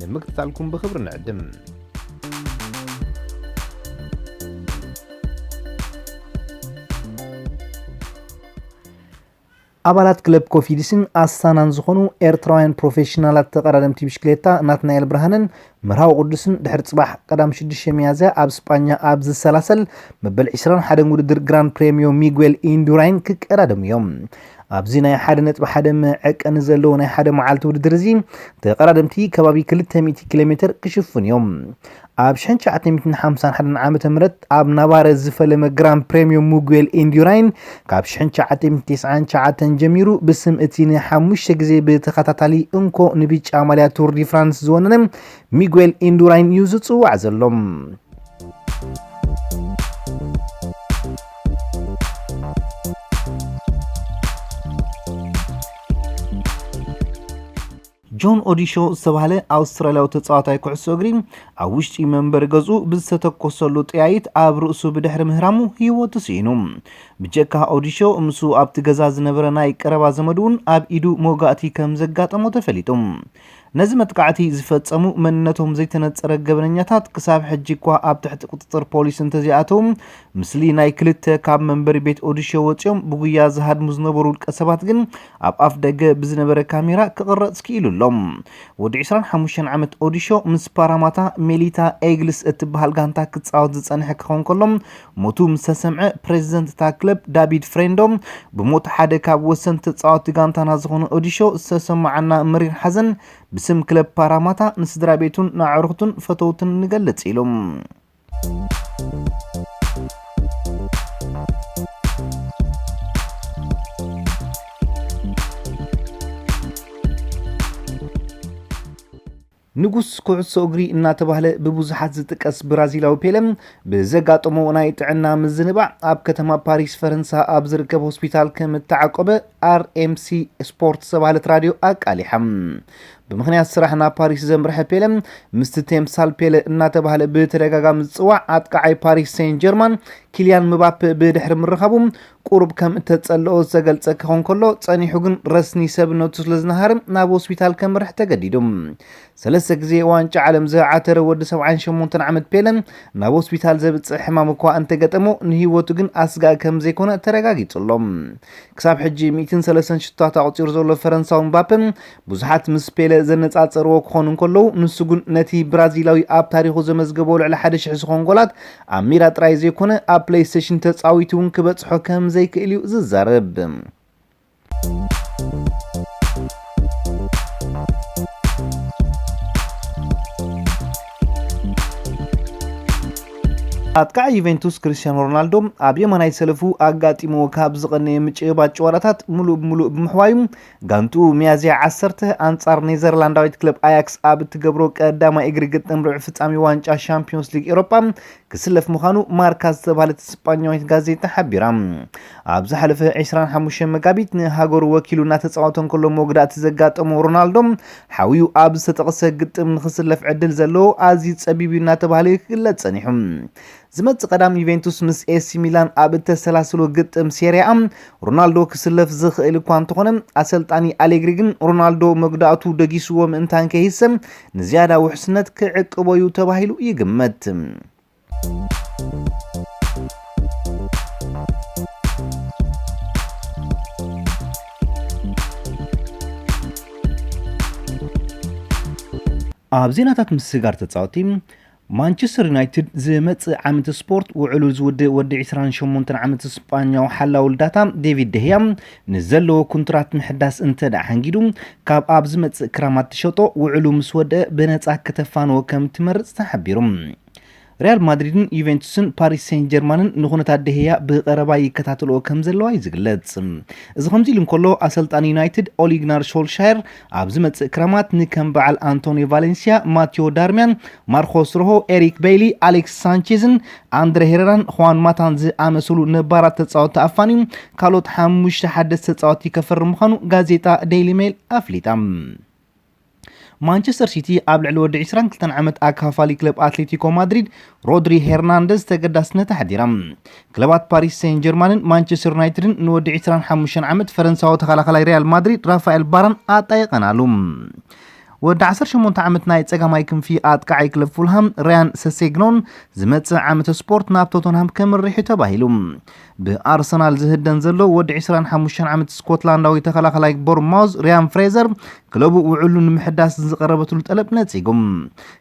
ንምክትታልኩም ብኽብሪ ንዕድም። ኣባላት ክለብ ኮፊዲስን ኣስታናን ዝኾኑ ኤርትራውያን ፕሮፌሽናላት ተቐዳደምቲ ብሽክሌታ ናትናኤል ብርሃንን መርሃዊ ቅዱስን ድሕሪ ጽባሕ ቀዳም 6 ሚያዝያ ኣብ ስጳኛ ኣብ ዝሰላሰል መበል 21 ውድድር ግራን ፕሬሚዮ ሚጉኤል ኢንዱራይን ክቀዳደሙ እዮም ኣብዚ ናይ ሓደ ነጥቢ ሓደ መዐቀኒ ዘለዎ ናይ ሓደ መዓልቲ ውድድር እዚ ተቐዳደምቲ ከባቢ ክልተ ሚእቲ ኪሎ ሜተር ክሽፍኑ እዮም። ኣብ ሽሕን ትሽዓተ ሚእትን ሓምሳን ሓደን ዓመተ ምህረት ኣብ ናቫረዝ ዝፈለመ ግራን ፕሬምዮ ሙጉዌል ኢንዲራይን ካብ ሽሕን ትሽዓተ ሚእትን ትስዓን ትሽዓተን ጀሚሩ ብስም እቲ ንሓሙሽተ ግዜ ብተኸታታሊ እንኮ ንብጫ ማልያ ቱር ዲ ፍራንስ ዝወነነ ሚጉኤል ኢንዱራይን እዩ ዝጽዋዕ ዘሎ። ጆን ኦዲሾ ዝተባህለ ኣውስትራልያዊ ተጻዋታይ ኩዕሶ እግሪ ኣብ ውሽጢ መንበሪ ገዝኡ ብዝተተኮሰሉ ጥያይት ኣብ ርእሱ ብድሕሪ ምህራሙ ህይወቱ ስኢኑ። ብጀካ ኦዲሾ ምስ ኣብቲ ገዛ ዝነበረ ናይ ቀረባ ዘመዱ እውን ኣብ ኢዱ መውጋእቲ ከም ዘጋጠሞ ተፈሊጡ። ነዚ መጥቃዕቲ ዝፈጸሙ መንነቶም ዘይተነጸረ ገበነኛታት ክሳብ ሕጂ እኳ ኣብ ትሕቲ ቁጽጽር ፖሊስ እንተዘይኣተው፣ ምስሊ ናይ ክልተ ካብ መንበሪ ቤት ኦዲሾ ወጺኦም ብጉያ ዝሃድሙ ዝነበሩ ውልቀ ሰባት ግን ኣብ ኣፍ ደገ ብዝነበረ ካሜራ ክቕረጽ ክኢሉ ኣሎ። ወዲ ዕስራን ሓሙሽተን ዓመት ኦዲሾ ምስ ፓራማታ ሜሊታ ኤግልስ እትበሃል ጋንታ ክጻወት ዝጸንሐ ክኸውን ከሎ፣ ሞቱ ምስ ተሰምዐ ፕረዚደንት እታ ክለብ ዳቪድ ፍሬንዶ ብሞት ሓደ ካብ ወሰንቲ ተጻወቲ ጋንታና ዝኾነ ኦዲሾ ዝተሰማዓና መሪር ሓዘን ብስም ክለብ ፓራማታ ንስድራ ቤቱን ንኣዕሩኽቱን ፈተውትን ንገልጽ ኢሉ። ንጉስ ኩዕሶ እግሪ እናተባህለ ብብዙሓት ዝጥቀስ ብራዚላዊ ፔለ፣ ብዘጋጠሞ ናይ ጥዕና ምዝንባዕ ኣብ ከተማ ፓሪስ ፈረንሳ ኣብ ዝርከብ ሆስፒታል ከም እተዓቆበ RMC Sport ዝተባህለት ራድዮ ኣቃሊሓ። ብምኽንያት ስራሕ ናብ ፓሪስ ዘምርሐ ፔለ፣ ምስቲ ቴምሳል ፔለ እናተባህለ ብተደጋጋሚ ዝጽዋዕ ኣጥቃዓይ ፓሪስ ሴን ጀርማን ኪልያን ምባፐ ብድሕሪ ምርኻቡ፣ ቁሩብ ከም እተጸልኦ ዝተገልጸ ክኸውን ከሎ፣ ጸኒሑ ግን ረስኒ ሰብነቱ ስለ ዝነሃርም ናብ ሆስፒታል ከምርሕ ተገዲዱ። ሰለስተ ግዜ ዋንጫ ዓለም ዝዓተረ ወዲ ሰብዓን ሸሞንተን ዓመት ፔለ፣ ናብ ሆስፒታል ዘብጽሕ ሕማም እኳ እንተገጠሞ፣ ንህይወቱ ግን ኣስጋኢ ከም ዘይኮነ ተረጋጊጹ ኣሎ። ክሳብ ሕጂ ሚእትን ሰለስተን ሽቶታት ኣቑጺሩ ዘሎ ፈረንሳዊ ምባፐ፣ ብዙሓት ምስ ፔለ ዘነጻጸርዎ ክኾኑ እንከለዉ፣ ንሱ ግን ነቲ ብራዚላዊ ኣብ ታሪኹ ዘመዝገቦ ልዕሊ ሓደ ሽሕ ዝኾን ጎላት ኣብ ሜዳ ጥራይ ዘይኮነ ኣብ ፕለይስቴሽን ተጻዊቱ እውን ክበጽሖ ከም ዘይክእል እዩ ዝዛረብ። ኣጥቃዒ ዩቬንቱስ ክርስቲያኖ ሮናልዶ ኣብ የማናይ ሰለፉ ኣጋጢምዎ ካብ ዝቐነየ ምጭብባጥ ጭዋዳታት ምሉእ ብምሉእ ብምሕዋዩ ጋንትኡ ሚያዝያ ዓሰርተ ኣንጻር ኔዘርላንዳዊት ክለብ ኣያክስ ኣብ እትገብሮ ቀዳማይ እግሪ ግጥም ርብዒ ፍጻሜ ዋንጫ ሻምፕዮንስ ሊግ ኤሮፓ ክስለፍ ምዃኑ ማርካ ዝተባህለት ስጳኛዊት ጋዜጣ ሓቢራ። ኣብ ዝሓለፈ 25 መጋቢት ንሃገሩ ወኪሉ እናተጻወተ እንከሎ መጉዳእቲ ዘጋጠሞ ሮናልዶ ሓውዩ ኣብ ዝተጠቕሰ ግጥም ንክስለፍ ዕድል ዘለዎ ኣዝዩ ጸቢብ እዩ እናተባህለ ክግለጽ ጸኒሑ። ዝመጽእ ቀዳም ዩቬንቱስ ምስ ኤሲ ሚላን ኣብ እተሰላስሎ ግጥም ሴሪኣ ሮናልዶ ክስለፍ ዝኽእል እኳ እንተኾነ ኣሰልጣኒ ኣሌግሪ ግን ሮናልዶ መጉዳእቱ ደጊስዎ ምእንታን ከይህሰ ንዝያዳ ውሕስነት ክዕቅቦ እዩ ተባሂሉ ይግመት። ኣብ ዜናታት ምስግጋር ተጻወቲ ማንቸስተር ዩናይትድ ዝመጽእ ዓመት ስፖርት ውዕሉ ዝውድእ ወዲ ዕስራን ሸሞንተን ዓመት ስጳኛዊ ሓላዊ ልዳታ ዴቪድ ደህያ ንዘለዎ ኩንትራት ምሕዳስ እንተድኣ ሓንጊዱ ካብ ኣብ ዝመጽእ ክራማት ትሸጦ ውዕሉ ምስ ወድእ ብነጻ ክተፋንዎ ከም ትመርጽ ተሓቢሩ። ሪያል ማድሪድን ዩቬንቱስን ፓሪስ ሴን ጀርማንን ንኹነታት ደህያ ብቐረባ ይከታተልዎ ከም ዘለዋ እዩ ዝግለጽ። እዚ ከምዚ ኢሉ እንከሎ ኣሰልጣኒ ዩናይትድ ኦሊግናር ሾልሻየር ኣብ ዝመጽእ ክረማት ንከም በዓል ኣንቶኒ ቫሌንስያ፣ ማቲዮ ዳርሚያን፣ ማርኮስ ሮሆ፣ ኤሪክ በይሊ፣ ኣሌክስ ሳንቼዝን ኣንድረ ሄረራን ኹዋን ማታን ዝኣመሰሉ ነባራት ተጻወቲ ኣፋንዩ ካልኦት ሓሙሽተ ሓደስቲ ተጻወቲ ከፍርም ምዃኑ ጋዜጣ ዴይሊ ሜል ኣፍሊጣ። ማንቸስተር ሲቲ ኣብ ልዕሊ ወዲ 22 ዓመት ኣካፋሊ ክለብ ኣትሌቲኮ ማድሪድ ሮድሪ ሄርናንደዝ ተገዳስነት ኣሕዲራ። ክለባት ፓሪስ ሴን ጀርማንን ማንቸስተር ዩናይትድን ንወዲ ዕስራን ሓሙሽተን ዓመት ፈረንሳዊ ተኸላኻላይ ሪያል ማድሪድ ራፋኤል ባራን ኣጣይቐናሉ። ወዲ ዓሰርተ ሸሞንተ ዓመት ናይ ጸጋማይ ክንፊ ኣጥቃዓይ ክለብ ፉልሃም ራያን ሰሴግኖን ዝመጽእ ዓመተ ስፖርት ናብ ቶተንሃም ከምርሕ እዩ ተባሂሉ። ብኣርሰናል ዝህደን ዘሎ ወዲ ዕስራን ሓሙሽተን ዓመት ስኮትላንዳዊ ተኸላኸላይ ቦርማውዝ ሪያን ፍሬዘር ክለቡ ውዕሉ ንምሕዳስ ዝቐረበትሉ ጠለብ ነጺጉ።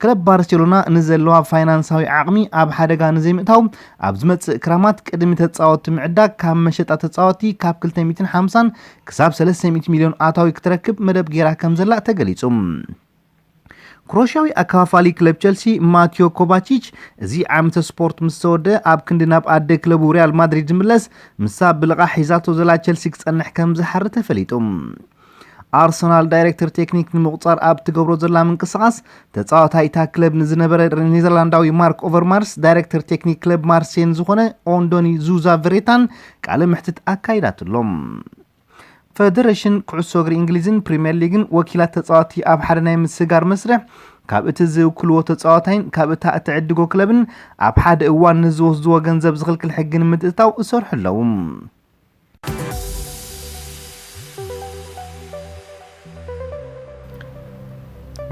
ክለብ ባርሴሎና ንዘለዋ ፋይናንሳዊ ዓቕሚ ኣብ ሓደጋ ንዘይምእታው ኣብ ዝመጽእ ክራማት ቅድሚ ተጻወቲ ምዕዳግ ካብ መሸጣ ተጻወቲ ካብ 250 ክሳብ 300 ሚልዮን ኣታዊ ክትረክብ መደብ ገይራ ከም ዘላ ተገሊጹ። ክሮሽያዊ ኣከፋፋሊ ክለብ ቸልሲ ማትዮ ኮቫቺች እዚ ዓመተ ስፖርት ምስ ተወደአ ኣብ ክንዲ ናብ ኣደ ክለቡ ሪያል ማድሪድ ዝምለስ ምሳ ብልቓሕ ሒዛቶ ዘላ ቸልሲ ክጸንሕ ከም ዝሓሪ ተፈሊጡ። ኣርሰናል ዳይሬክተር ቴክኒክ ንምቑጻር ኣብ ትገብሮ ዘላ ምንቅስቓስ ተጻዋታይ እታ ክለብ ንዝነበረ ኔዘርላንዳዊ ማርክ ኦቨርማርስ ዳይሬክተር ቴክኒክ ክለብ ማርሴን ዝኾነ ኦንዶኒ ዙዛ ቨሬታን ቃለ መሕትት ኣካይዳትሎም። ፈደረሽን ኩዕሶ እግሪ እንግሊዝን ፕሪምየር ሊግን ወኪላት ተፃዋቲ ኣብ ሓደ ናይ ምስጋር መስርሕ ካብ እቲ ዝውክልዎ ተፃዋታይን ካብ እታ እትዕድጎ ክለብን ኣብ ሓደ እዋን ንዝወስድዎ ገንዘብ ዝኽልክል ሕጊ ንምትእትታው እሰርሑ ኣለዉ።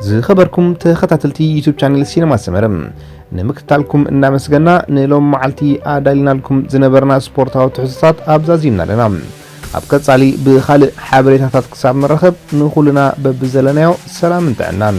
ዝኸበርኩም ተኸታተልቲ ዩቱብ ቻነል ሲነማ ሰመረ ንምክትታልኩም እናመስገና ንሎም መዓልቲ ኣዳሊናልኩም ዝነበርና ስፖርታዊ ትሕዝቶታት ኣብዛዚምና ኣለና ኣብ ቀጻሊ ብኻልእ ሓበሬታታት ክሳብ ንረኸብ ንኹልና በብዘለናዮ ሰላምን ጥዕናን